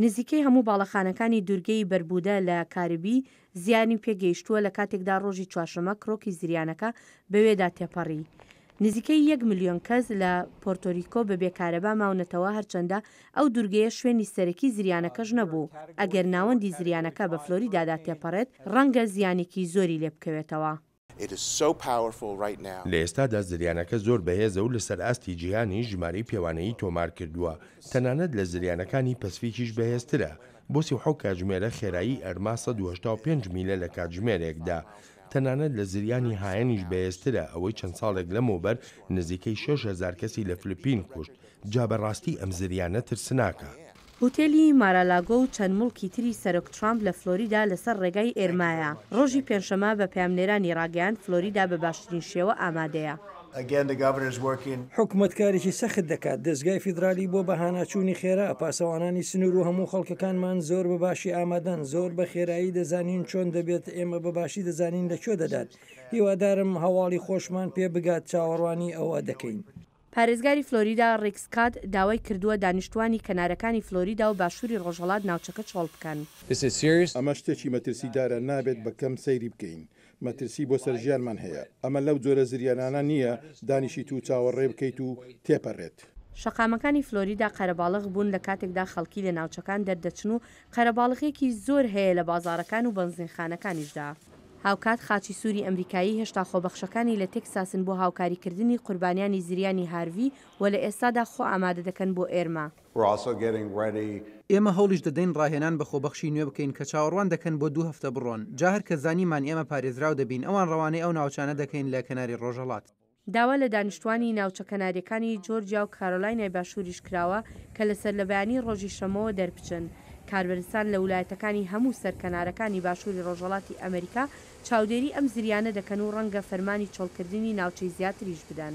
نزیکەی هەموو باڵەخانەکانی دوورگەی بەربودە لە کاربی زیانی پێگەیشتووە لە کاتێکدا ڕۆژی چوارشەممە کڕۆکی زریانەکە بەوێدا تێپەڕی. نزیکەی یەک ملیۆن کەس لە پۆرتۆریکۆ بەبێ کارەبا ماونەتەوە هەرچەندە ئەو دوورگەیە شوێنی سەرەکی زریانەکەش نەبوو، ئەگەر ناوەندی زریانەکە بە فلۆریدادا تێپەڕێت ڕەنگە زیانێکی زۆری لێبکەوێتەوە. لە ئێستادا زریانەکە زۆر بەهێزە و لەسەر ئاستی جیهانیش ژمارەی پێوانەیی تۆمار کردووە، تەنانەت لە زریانەکانی پەسفیکیش بەهێزترە، بۆ سی و حەوت کاتژمێرە خێرایی ئەرما سەد و هەشتا و پێنج میلە لە کاتژمێرێکدا، تەنانەت لە زریانی هایەنیش بەهێزترە، ئەوەی چەند ساڵێک لەمەوبەر نزیکەی شەش هەزار کەسی لە فلپین کوشت، جا بە ڕاستی ئەم زریانە ترسناکە. هوتێلی مارالاگۆ و چەند موڵکی تری سەرۆک ترامپ لە فلۆریدا لەسەر ڕێگای ئێرمایە، ڕۆژی پێنجشەممە بە پەیامنێرانی ڕاگەیاند فلۆریدا بە باشترین شێوە ئامادەیە. حکومەت کارێکی سەخت دەکات، دەزگای فیدرالی بۆ بەهاناچوونی خێرا، پاسەوانانی سنوور و هەموو خەڵکەکانمان زۆر بە باشی ئامادەن، زۆر بە خێرایی دەزانین چۆن دەبێت، ئێمە بە باشی دەزانین لە کوێ دەدات، هیوادارم هەواڵی خۆشمان پێ بگات، چاوەڕوانی ئەوە دەکەین. پارێزگاری فلۆریدا ڕیک سکات داوای کردووە دانیشتووانی کەنارەکانی فلۆریدا و باشووری ڕۆژهەڵات ناوچەکە چۆڵ بکەن. ئەمە شتێکی مەترسیدارە، نابێت بە کەم سەیری بکەین. مەترسی بۆ سەر ژیانمان هەیە. ئەمە لەو جۆرە زریانانە نییە دانیشیت و چاوەڕێ بکەیت و تێپەرێت. شەقامەکانی فلۆریدا قەرەباڵغ بوون لە کاتێکدا خەڵکی لە ناوچەکان دەردەچن و قەرەباڵغیەکی زۆر هەیە لە بازاڕەکان و بەنزینخانەکانیشدا. هاوکات خاچی سووری ئەمریکایی هێشتا خۆبەخشەکانی لە تێکساسن بۆ هاوکاریکردنی قوربانیانی زریانی هارڤی و لە ئێستادا خۆ ئامادە دەکەن بۆ ئێرما. ئێمە هەوڵیش دەدەین ڕاهێنان بە خۆبەخشی نوێ بکەین کە چاوەڕوان دەکەن بۆ دوو هەفتە بڕۆن، جا هەر کە زانیمان ئێمە پارێزراو دەبین ئەوان ڕەوانەی ئەو ناوچانە دەکەین لە کەناری ڕۆژهەڵات. داوا لە دانیشتووانی ناوچە کەنارییەکانی جۆرجیا و کارۆلاینای باشووریش کراوە کە لە سەرلەبەیانیی ڕۆژی شەممەوە دەربچن. کاربەرستان لە ولایەتەکانی هەموو سەر کەنارەکانی باشووری ڕۆژهەڵاتی ئەمریکا چاودێری ئەم زریانە دەکەن و ڕەنگە فەرمانی چۆڵکردنی ناوچەی زیاتریش بدەن.